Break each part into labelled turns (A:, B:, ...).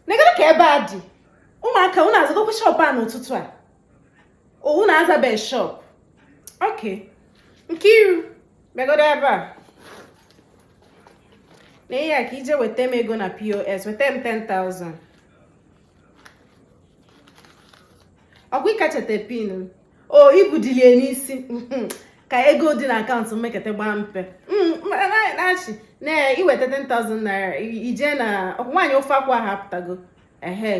A: negodo ka ebe a dị ụmụaka unu azagokwa shop a n'ụtụtụ a unu azabe shọp ok Nkiru bịagodo ebe a na ihe a ka i je weta m ego na pos weta m 10,000 ọkwa ị ka cheta pin o i budilie n'isi hmm, ka ego dị na akaụntụ m mekete gbaa mpe hmm, nachi na i weta 10,000 naira i je na ọkwa nwaanyị ofe akwụ ha apụtago ehe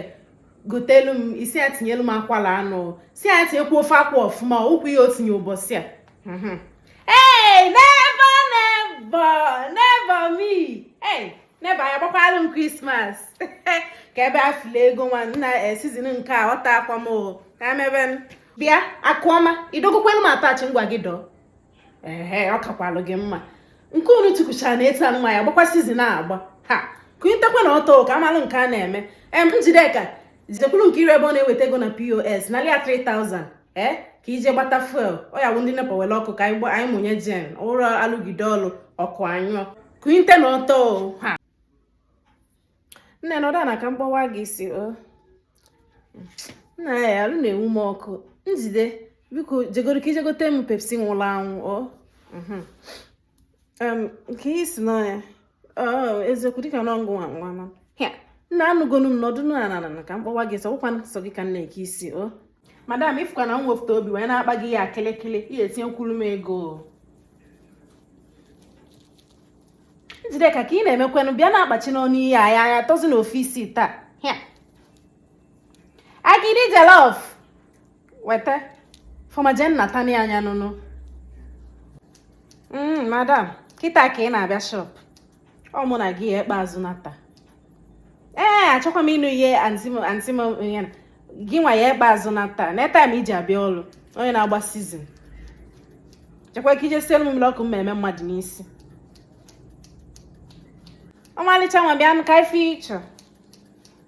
A: gotelu m i si ya tinyelu m akwala anụ si ya tinyekwa ofe akwụ ọfụma ụkwụ ihe o tinye ụbọsị a hmm, ee never never never me never ya agbakwalụ m Christmas ka ebe a fụla ego nwa nna eh, season nke a ọta akwa m ka emebe m bịa Akụọma i dọgokwelu m attach ngwa je dọọ ehe ọ kakwalụ gị mma nke unu tukwuchara na etu anụnwa ya gbakwa season a agba ha kunitekwanụ ọtọ ka a malụ nke a na-eme em Njideka jekwuru Nkiru ebe ọ na-eweta ego na pos nalụ ya 3000 ee eh, ka i je gbata fuel ọ ya bụ ndị nepa were ọkụ ka anyị mụnye gen ọ bụrọ a lụgide ọlụ ọkụ anyụọ kunitenụ ọtọ ha nne nọdụ ana ka m kpawa gị isi o nna ya alụ na-enwu m ọkụ Njide biko jegodo ka i je gote m pepsi nwụrụ anwụ o mhm. nke si n'ọnya eziokwu dịka na ọngụ nwa nwa nna anụgonu m nọdụ ana ka m kpawa gị isi ọ bụkwa sọ gị ka m na-eke isi o madam ị fụkwa na m wefụta obi wee na-akpa gị ya kịlịkịlị ị ya-etinyekwuru m ego Njideka ka ị na-emekwanụ bịa na-akpachi n'ọnụ ihe anya anya tozi na office taa agidi jollof weta fọmajen na tani anya nụnụ mm, madam kịta ka ị na-abịa shop ọ mụ na gị ya-ekpe azụ ana taa ee achọkwa m ịnụ ihe anti m ya na gị nwa ya-ekpe azụ ana taa nee time i ji abịa ọrụ onye na-agba season jekwa ka i je sielu m mmiri ọkụ m mee mmadụ n'isi ọmalịcha nwa bịanụ ka ife ị chọ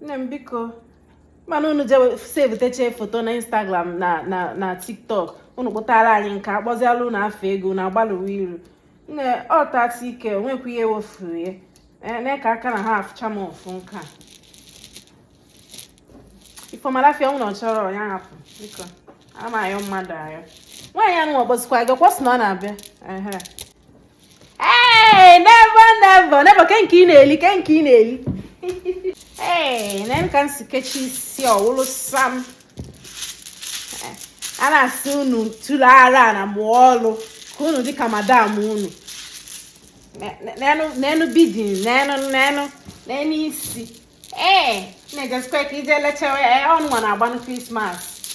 A: nne m biko mana unu je savetechaa foto na instagram na na na tiktok unu kpụtara anyị nke a kpọzịalụ unu afa ego unu agbalụwa iru nne ọ 30k o nwekwa ihe wefuru ya eh, na ka aka na ha afụcha m ofu nke a ifeọmalafia ọ wụrụ na ọ chọrọ ya hapụ biko a ma ayọ mmadụ ayọ nwaanyị anụ ọ kpọzikwa gị ọkwa ọ sị na ọ na-abịa Hey, never never never ke nke ị na-eli ke nke ị na-eli ee nee ka m si kechi isi ọ wụlụ sam a na-asị unu tụrụ ara na mụọ ọlụ ka unu dịka madam unu n'enu building n'enu n'enu n'enu isi ee na-ejesikwa ka ije lechawa ya ọnụnwa na-agbanụ krismas